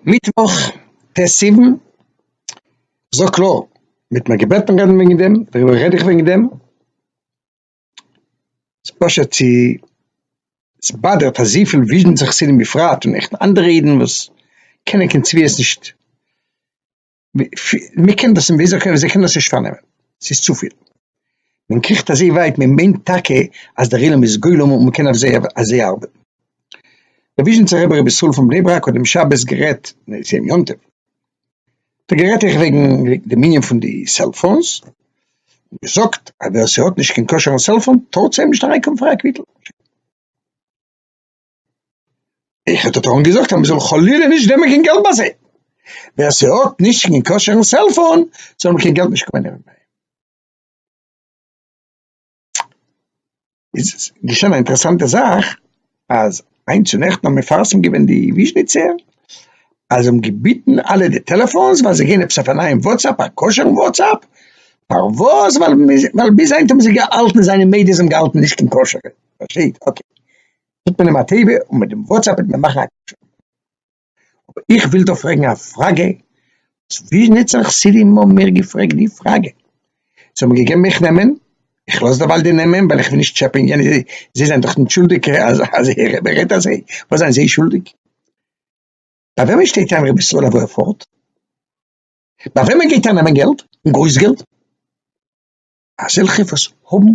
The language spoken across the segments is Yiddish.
מיטוואך ט' סיוון, זאג קלאר, מ'האט מיך געבעטן רעדן וועגן דעם, דעריבער רעד איך וועגן דעם, ס'פשוט צו ס'באדערט אזויפיל וויזשניצע חסידים בפרט און עכט אנדערע אידן וואס קענען קיין צביעות נישט. מען קען דאס וויאזוי קען זיי קענען עס נישט פארנעמען ס'איז צופיל, מען קריכט אזוי ווייט מען מיינט טאקע אז דער עולם איז גולם און מען קען אויף זיי אויף זיי ארבעטן. די וויזשניצער רבי רבי ישראל פון בני ברק האט דעם שבת גערעדט, נעע ס'איז יום יום טוב, האט ער גערעדט איך וועגן דעם ענין פון די סעלפאונס, געזאגט אז ווער ס'האט נישט קיין כשר'ן סעלפאון טאר צו אים נישט אריינקומען פאר א קוויטל. איך האט דאך געזאגט אז מ'זאל חלילה נישט נעמען קיין געלט ביי זיי, ווער ס'האט נישט קיין כשר'ן סעלפאון זאל מען קיין געלט נישט קומען נעמען ביי אים, איז געשען א אינטערעסאנטע זאך אז היינט צו נעכטן האבן מפרסם געווען די וויזשניצער אז זיי האבן געביטן אלע די טעלעפאונס ווייל זיי גייען עפעס אויף א נייעם וואטסעפפ א כשר'ן וואטסעפפ, פארוואס ווייל ביז היינט האבן זיי געהאלטן זיי זענען מדה זיי האבן געהאלטן נישט קיין כשר'ע, פארשטייט אקעי. טוט מען אים א טובה און מיט דעם וואטסעפפ וועט מען מאכן א קשר. אבער איך וויל דא פרעגן א פראגע, וואס ווי נוצן חסידים האבן מיר געפרעגט די פראגע, זיי האבן געגעבן מיך נעמען, איך לאז דערווייל די נעמען ווייל איך וויל נישט טשעפען יענע, זיי זענען דאך נישט שולדיג אז אז ער רעדט אזוי, וואס זענען זיי שולדיג? ביי וועמען שטייט איין רבי ישראל אוואו ער פארט? ביי וועמען גייט ער נעמען געלט און גרויס געלט? אזעלכע וואס האבן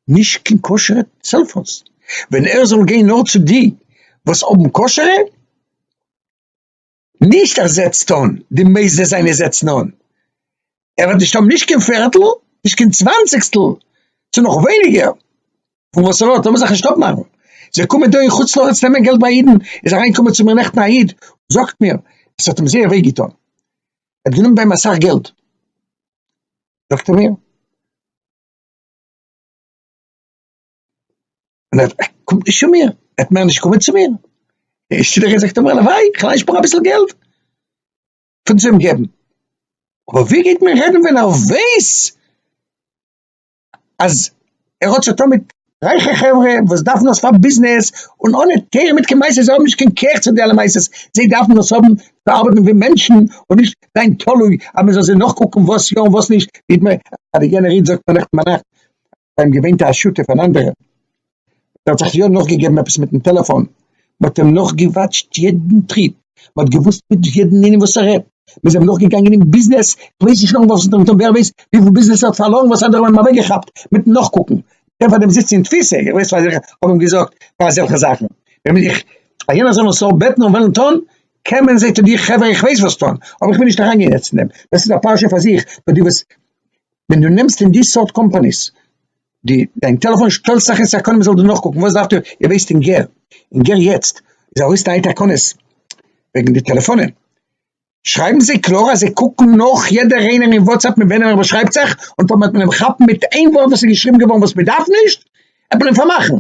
נישט קיין כשר'ע סעלפאונס, ווען ער זאל גיין נאר צו די וואס האבן כשר'ע, נישט ער זעצט אן, די מוסדות זיינע זעצן אן, ער וועט נישט האבן נישט קיין פערטל, נישט קיין צוואנציגסטל, צו נאך ווייניגער פון וואס ער האט, לאמיר זיך נישט אפמאכן, זיי קומען דא אין חוץ לארץ נעמען געלט ביי אידן, איז אריינגעקומען צו מיר נעכטן א איד, זאגט מיר, עס האט אים זייער וויי געטון, ער האט גענומען ביי אים אסאך געלט, זאגט ער מיר, און ער קומט נישט צו מיר, ער וועט מער נישט קומען צו מיר, שטילערהייט זאגט ער מיר, הלוואי, איך אליין שפאר אביסל געלט פון צו אים געבן, אבער ווער גייט מיר רעדן ווען ער ווייס אז ער האט זיך טון מיט רייכע חברה וואס דארפן דאס פאר ביזנעס, און אנע תורה מיט קיין מעשה, זיי האבן נישט קיין כח צו די אלע מעשות, זיי דארפן דאס האבן צו ארבעטן ווי מענטשן, און נישט זיין תלוי אז מען זאל זיי נאכקוקן וואס יא און וואס נישט, זעהט מען אז די יענער איד זאגט נעכטן ביינאכט ביים געווען טאהש שותף אן אנדערער, ער האט זיך יא נאכגעגעבן עפעס מיטן טעלעפאן, מען האט אים נאכגעוואטשט יעדן טריט, מען האט געוואוסט מיט יעדן איינעם וואס ער רעדט, מען איז אים נאכגעגאנגען אין ביזנעס, איך ווייס נישט נאכן ווארפן טענטרום, ווער ווייסט וויפיל ביזנעס ער האט פארלוירן וואס אנדערע האבן אים אוועקגעכאפט מיטן נאכקוקן, מ'קען פארדעם זיצן אין תפיסה, איך ווייס פאר זיך איך האב אים געזאגט פאר אזעלכע זאכן, ווען בין איך פאר יענער זאל נאר בעטן און וועלן טון, קען מען זעט איר חברה איך ווייס וואס טון, אבער איך וויל נישט אריינגיין יעצט אין דעם, דאס איז א פרשה פאר זיך, נאר די וואס ווען דו נעמסט אין די סארט קאמפאניס די דיין טעלעפאון שטעלט זיך אין סעקונדען מען זאל דא נאכקוקן וואס דארפסטו איר ווייסט אין גער אין גער יעצט איז ארויס נייע תקנות וועגן די טעלעפאנען שרייבן זיי קלאר אז זיי קוקן נאך יעדער איינער אין וואטסעפפ מיט וועמען ער באשרייבט זיך און טאמער וועט מען אים כאפן מיט איין ווארט וואס איז געשריבן געווארן וואס מען דארף נישט וועט מען אים פארמאכן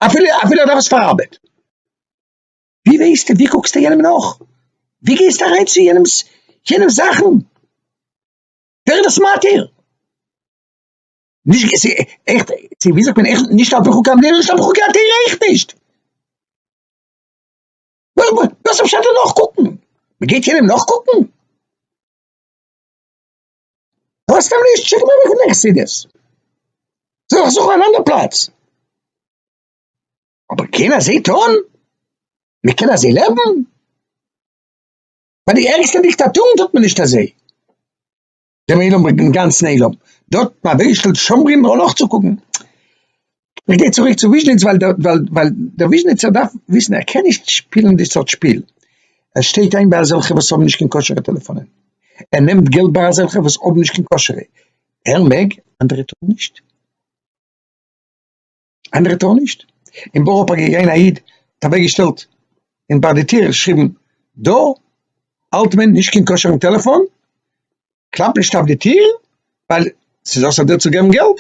אפילו אפילו ער דארף עס פאר ארבעט. ווי ווייסטו ווי קוקסטו יענעם נאך ווי גייסטו אריין צו יענעמס יענעמס זאכן ווער איז דאס מתיר? נישט געזע איך צו וויאזוי קען איך נישט האבן חוקי המדינה נישט האבן חוקי התורה אויך נישט. וואס איז פשט אין נאכקוקן? מ'גייט יענעם נאכקוקן? ווייסט סתם נישט שיק מיר אוועק פון דיין חסידות. זאל איך זוכן אן אנדער פלאץ. אבער קען אזוי טון? מ'קען אזוי לעבן? ביי די ערגסטע דיקטאטורן טוט מען נישט אזוי. דעם עולם ברענגט דעם גאנצן עולם, דארט ביי וויזשניץ שומרים נאר נאכצוקוקן, איך גיי צוריק צו וויזשניץ ווייל דער ווייל דער וויזשניצער דארף וויסן ער קען נישט שפילן די סארט שפיל, ער שטייט איין ביי אזעלכע וואס האבן נישט קיין כשר'ע טעלעפאנען, ער נעמט געלט ביי אזעלכע וואס האבן נישט קיין כשר'ע, ער מעג אנדערע טארן נישט. אנדערע טאר נישט, אין בארא פארק איז געווען א איד האט אוועק געשטעלט אין ביי די טיר געשריבן דא האלט מען נישט קיין כשר'ן טעלעפאן, קלאפ נישט אויף די טיר ווייל ס'איז אסור דיר צו געבן געלט,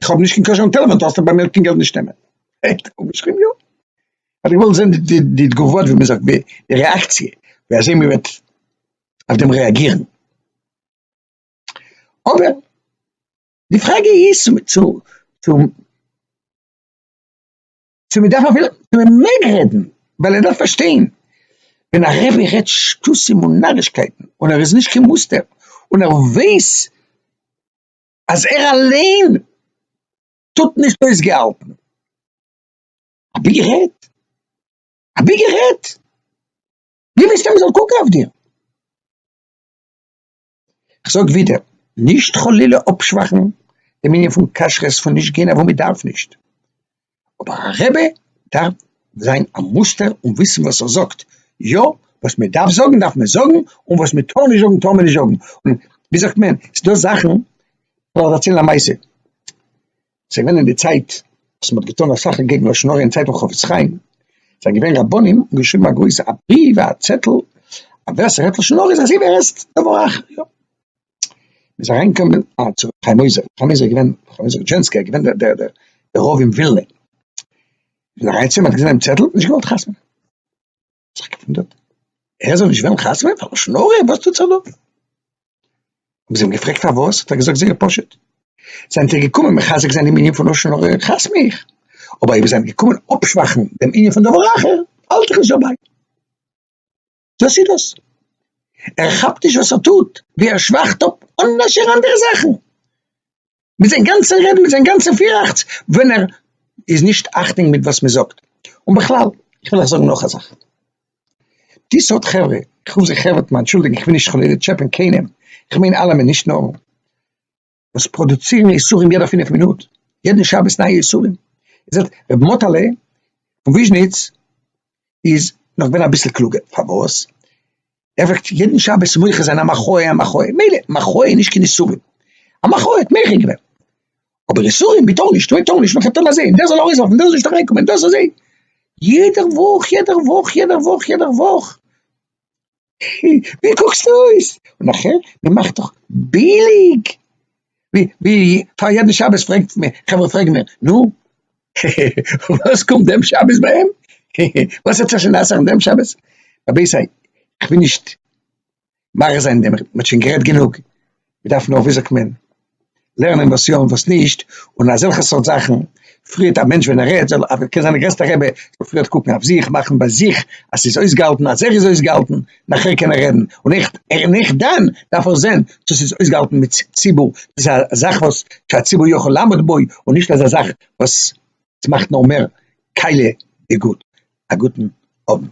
איך האב נישט קיין כשר'ן טעלעפאן טארסטו ביי מיר קיין געלט נישט נעמען. האט ער אפגעשריבן יא? כ'האב געוואלט זען די די תגובות ווי מ'זאגט די רעאקציע ווי אזוי מ'וועט אויף דעם רעאגירן, אבער. די פראגע איז צו צו צו צו מען דארף אפילו צו מען מעג רעדן ווייל ער דארף פארשטיין ווען א רבי רעדט שטותים און נארישקייטן און ער איז נישט קיין מוסטער און ער ווייס אז ער אליין טוט נישט אויס געהאלטן אבי גערעדט אבי גערעדט ווי ווילסטו מען זאל קוקן אויף דיר? כ'זאג ווידער, נישט חלילה אפשוואכן דעם ענין פון כשרות פון נישט גיין אוואו מ'דארף נישט, אבער א רבי דארף זיין א מוסטער און וויסן וואס ער זאגט יא, וואס מ'דארף זאגן דארף מען זאגן, און וואס מ'טאר נישט זאגן טאר מען נישט זאגן, און ווי זאגט מען, ס'דא זאכן, כ'וועל ארציילן א מעשה, זיי ווען אין די צייט וואס מ'האט געטון אסאך אקעגן לשון הרע אין צייט פון חפץ חיים, זענען געווען רבנים און געשריבן א גרויסע א בריוו א צעטל אז ווער ס'רעדט לשון הרע איז אזוי ווי ער עסט דבר אחר, יא. מ'איז אריינגעקומען א צו ר' חיים עוזר, ר' חיים עוזר איז געווען ר' חיים עוזר רודזשענסקי געווען דער דער דער רב אין ווילנע, מ'איז אריין צו אים מ'האט געזען דעם צעטל, נישט געוואלט חתמ'נען. זיך געוואונדערט, ער זאל נישט וועלן חתונה ווערן פאר לשון הרע, וואס טוט זיך דא? האבן זיי אים געפרעגט פארוואס, האט ער געזאגט זייער פשוט, זענט איר געקומען מחזק זיין דעם ענין פון לשון הרע, כאפסט מיך, אבער אויב איר זענט געקומען אפשוואכן דעם ענין פון דבר אחר, האלט איך נישט דערביי. דאס איז דאס. ער כאפט נישט וואס ער טוט, ווי ער שוואכט אפ אנדערש אנדערע זאכן. מיט זיין גאנצע רעדן מיט זיין גאנצע פיראכץ ווען ער איז נישט אכטונג מיט וואס מען זאגט, און בכלל איך וויל אייך זאגן נאך א זאך, די סארט חברה, איך רוף זיי חברה, אנטשולדיגן איך וויל נישט חלילה טשעפען קיינעם, איך מיין אלעמען נישט נאר, וואס פראדוצירן איסורים יעדע פינף מינוט, יעדן שבת נייע איסורים, איר זעט רבי מאטעלע פון וויזשניץ איז נאך געווען אביסל קלוגער, פארוואס? ער פרעגט יעדן שבת מוחה זיין א מחאה א מחאה, מילא, מחאה איז נישט קיין איסורים, א מחאה האט מוחה געווען, אבער איסורים מ'טאר נישט, מ'טאר נישט, מ'טאר אזוי, און דער זאל ארויסווארפן, דער זאל נישט אריינקומען, דאס אזוי, יעדער וואך, יעדער וואך, יעדער וואך, יעדער וואך, ווי קוקסטו אויס? און נאכער, מ'מאכט דאך ביליג. ווי פאר יעדן שבת פרעגט מען, חברה פרעגן מיר, נו? וואס קומט דעם שבת ביי אים? וואס האט זיך שוין אסר'ן דעם שבת? רבותי, איך וויל נישט מאריך זיין דעם, מען האט שוין גערעדט גענוג, מען דארף נאר ווי זאגט מען, לערנען וואס יא און וואס נישט, און אזעלכע סארט זאכן פריערט א מענטש ווען ער רעדט, זאל, קען זיין די גרעסטע רבי, זאל פריערט קוקן אויף זיך, מאכן ביי זיך אז ס'איז אויסגעהאלטן, אז ער איז אויסגעהאלטן. נאכער קען ער רעדן, און איך און איך דאן דארף איך זען צו ס'איז אויסגעהאלטן מיט ציבור, צו ס'איז א זאך וואס שהציבור יכול לעמוד בו, און נישט אזא זאך וואס ס'מאכט נאר מער קאלע די גאט. א גוטן אוונט.